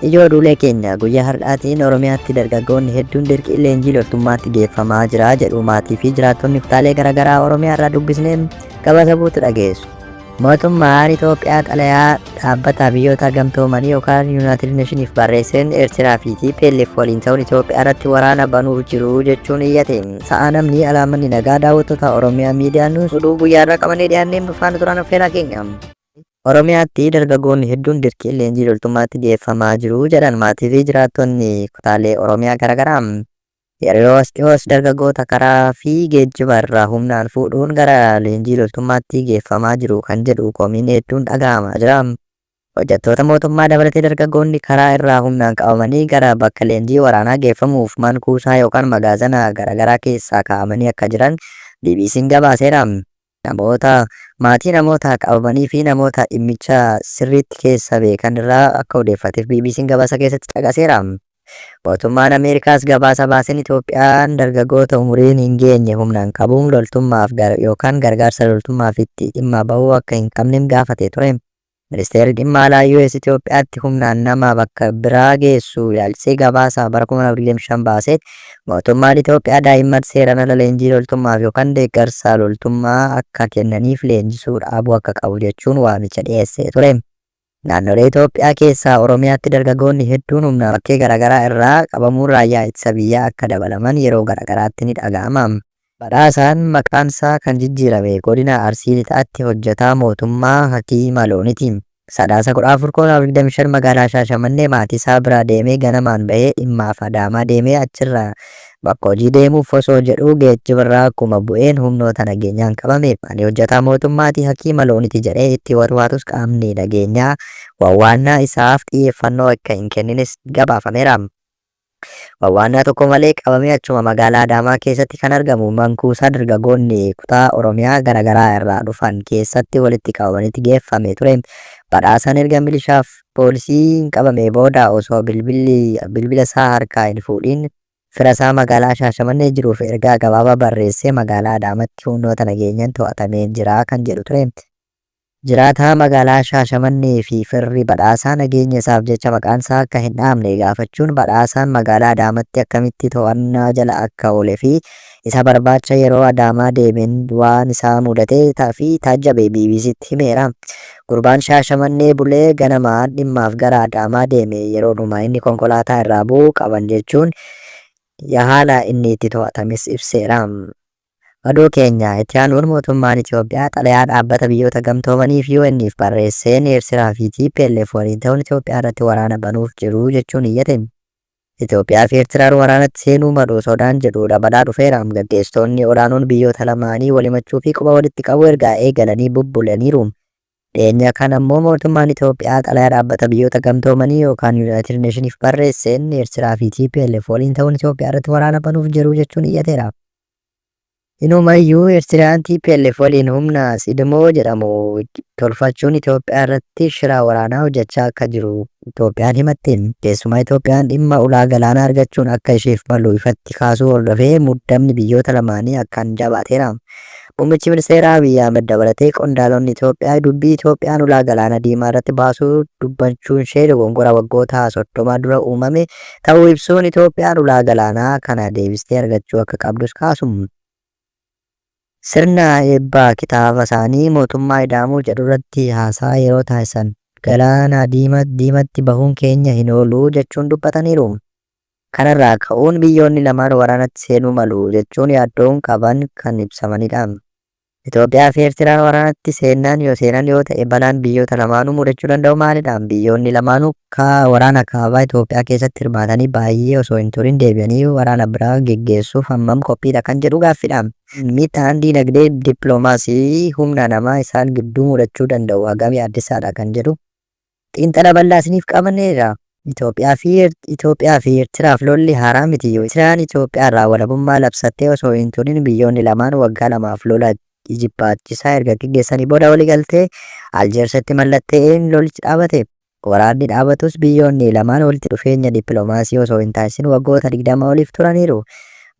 Ijoo duulee keenya guyyaa har'aatiin Oromiyaatti dargaggoonni hedduun dirqii leenjii loltummaatti geeffamaa jira jedhu maatii fi jiraattonni kutaalee garaagaraa Oromiyaa irraa dubbisnee gabaasa buutu dhageessu. Mootummaan Itoophiyaa xalayaa Dhaabbata Biyyoota Gamtoomanii yookaan Yuunaayitid Neeshiniif barreesseen Eertiraa fi TPLF waliin ta'uun Itoophiyaa irratti waraana banuuf jiru jechuun iyyate. Sa'aa namni alaa manni nagaa daawwattoota Oromiyaa Miidiyaa Nuus oduu guyyaa irraa qabannee dhiyaanneen nufaana turaan affeeraa keenya. Oromiyaatti dargaggoonni hedduun dirqiin leenjii loltummaatti geeffamaa jiru jedhan maatii fi jiraattonni kutaalee Oromiyaa garaagaraa. Yeroo as dhihoos dargaggoota karaa fi geejjiba irraa humnaan fuudhuun gara leenjii loltummaatti geeffamaa jiru kan jedhu komiin hedduun dhaga'amaa jira. Hojjattoota mootummaa dabalatee dargaggoonni karaa irraa humnaan qabamanii gara bakka leenjii waraanaa geeffamuuf man kuusaa yookaan magaazana garaagaraa keessaa kaa'amanii akka jiran BBC'n gabaaseera. Namoota, maatii namoota qabamanii fi namoota dhimmicha sirriitti keessa beekan irraa akka odeeffateef BBC'n gabaasa keessatti caqaseera. Mootummaan Ameerikaas gabaasa baaseen Itoophiyaan dargaggoota umuriin hin geenye humnaan qabuun loltummaaf yookaan gargaarsa loltummaafitti dhimma bahuu akka hin qabnem gaafatee ture. Ministeerri Dhimma Alaa US Itoophiyaatti humnaan nama bakka biraa geessu ilaalchisee gabaasa bara 2025 baaseen, mootummaan Itoophiyaa daa'imman seeraan ala leenjii loltummaaf yookan deeggarsa loltummaa akka kennaniif leenjisuu dhaabuu akka qabu jechuun waamicha dhiyeessee ture. Naannolee Itoophiyaa keessaa Oromiyaatti dargagoonni hedduun humnaan bakkee garaagaraa irraa qabamuun raayyaa ittisa biyyaa akka dabalaman yeroo garaagaraatti ni dhaga'ama. Badhaasaan maqaansaa kan jijjiirame Godina Arsii Lixaatti hojjetaa mootummaa hakiima looniti. Sadaasa 14/2025 magaalaa Shaashamannee maatiisaa biraa deemee ganamaan bahee dhimmaaf Adaamaa deemee achirraa bakka hojii deemuuf osoo jedhuu geejjibarraa akkuma bu'een humnoota nageenyaan qabame. Ani hojjetaa mootummaati, hakiima looniti jedhee itti warwaatus qaamni nageenyaa wawwaannaa isaaf xiyyeeffannoo akka hin kennines gabaafameera. Wawwaannaa tokko malee qabamee achuma magaalaa Adaamaa keessatti kan argamu mankuusaa dargagoonni kutaa Oromiyaa gara garaa irraa dhufan keessatti walitti qabamanitti geeffamee ture. Badhaasaan erga milishaaf poolisiin qabamee booda osoo bilbilli bilbila isaa harkaa hin fuudhiin fira isaa magaalaa Shaashamannee jiruuf ergaa gabaabaa barreessee magaalaa Adaamatti humnoota nageenyaan to'atamee jira kan jedhu ture. Jiraataa magaalaa Shaashamannee fi firri Badhaasaa nageenya isaaf jecha maqaan isaa akka hin dhahamne gaafachuun Badhaasaan magaalaa Adaamatti akkamitti to'annaa jala akka oole fi isa barbaacha yeroo Adaamaa deemeen waan isa mudate fi taajjabe BBCtti himeera. Gurbaan Shaashamannee bulee ganama dhimmaaf gara Adaamaa deeme yeroodhuma inni konkolaataa irraa bu'u qaban jechuun haala inni itti to'atames ibseera. Oduu keenya itti aanuun mootummaan Itoophiyaa xalayaa Dhaabbata Biyyoota Gamtoomanii fi UN'f barreesseen Eertiraa fi tplf waliin ta'uun Itoophiyaa irratti waraana banuuf jiru jechuun iyyate. Itoophiyaa fi Eertiraan waraanatti seenuu malu sodaan jedhu dabalaa dhufeera. Gaggeessitoonni olaanoon biyyoota lamaanii wal himachuu fi quba walitti qabuu erga eegalanii bubbulaniiru. Dhiyeenya kana ammoo mootummaan Itoophiyaa xalayaa Dhaabbata Biyyoota Gamtoomanii yookaan Yuunaayitid Neeshiniif barreesseen Eertiraa fi tplf waliin ta'uun Itoophiyaa irratti waraana banuuf jiru jechuun iyyateera. Inumayyuu Eertiraan tplf waliin humna Sidmoo jedhamu tolfachuun Itoophiyaa irratti shira waraanaa hojjechaa akka jiru Itoophiyaan himatte. Keessumaa Itoophiyaan dhimma ulaa galaanaa argachuun akka isheef malu ifatti kaasuu hordofee muddamni biyyoota lamaanii akkaan jaabaateera. Muummichi Ministeeraa Abiy Ahmed dabalatee qondaalonni Itoophiyaa dubbii Itoophiyaan ulaa galaana diimaa irratti baasuu dubbachuunshee dogongora waggoota 30 dura uumame ta'uu ibsuun Itoophiyaan ulaa galaanaa kana deebistee argachuu akka qabdus kaasu. Sirna eebba kitaaba isaanii Mootummaa Ida'amuu jedhu irratti haasaa yeroo taasisan. Galaana diimatti bahuun keenya hin oolu jechuun dubbataniiru. Kanarraa ka'uun biyyoonni lamaan waraanatti seenuu malu jechuun yaaddoon qaban kan ibsamanidha. Itoophiyaa fi Eertiraan waraanatti seennaan yoo seenan yoo ta'e balaan biyyoota lamaanuu mudachuu danda'u maalidha? Biyyoonni lamaanuu akka waraana kaabaa Itoophiyaa keessatti hirmaatanii baayyee osoo hin turin deebi'anii waraana biraa geggeessuuf hammam qophiidha kan jedhu gaaffidha. Miidhaan diinagdee, dippilomaasii fi humna namaa isaan gidduu mudachuu danda'u hagam yaaddessaadha kan jedhu Xiinxala bal'aa isiniif qabanneerra. Itoophiyaa fi Itoophiyaa fi Ertiraaf lolli haaraa miti. Ertiraan Itoophiyaa irraa walabummaa labsattee osoo hin turin biyyoonni lamaan waggaa lamaaf lola ijibbaachisaa erga geggeessanii booda waliigaltee Aljeersitti mallatta'een lolichi dhaabate. Waraanni dhaabatus biyyoonni lamaan walitti dhufeenya dippilomaasii osoo hin taasisin waggoota 20 oliif turaniiru.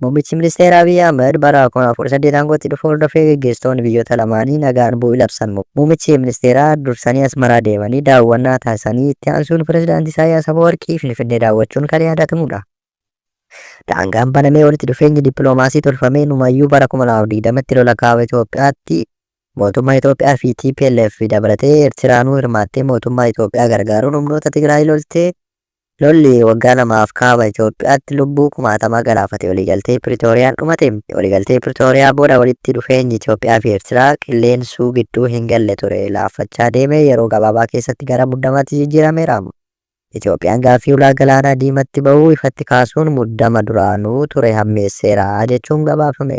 Muummichi Ministeera Abiy Ahmed bara 2018 aangootti dhufu hordofee geggeessitoonni biyyoota lamaanii nagaan bu'uu labsan. Muummichi Ministeeraa dursanii Asmaraa deemanii daawwannaa taasisanii itti aansuun Pireezidaanti Isaayyaas Afawarqii Finfinnee daawwachuun kan yaadatamudha. Daangaan banamee walitti dhufeenyi dippiloomaasii tolfamee numayyuu bara 2020tti lola kaaba Itoophiyaatti mootummaa Itoophiyaa fi TPLF dabalatee Eertiraanuu hirmaattee mootummaa Itoophiyaa gargaaruun humnoota Tigraay loltee Lolli waggaa lamaaf Kaaba Itoophiyaatti lubbuu kumaatamaa galaafate waliigaltee Piritooriyaan dhumate. Waliigaltee Piritooriyaa booda walitti dhufeenyi Itoophiyaa fi Eertiraa qilleensuu gidduu hin galle ture laaffachaa deemee yeroo gabaabaa keessatti gara muddamaatti jijjiirameera. Itoophiyaan gaaffii ulaa Galaana Diimatti bahuu ifatti kaasuun muddama duraanuu ture hammeesseera jechuun gabaafame.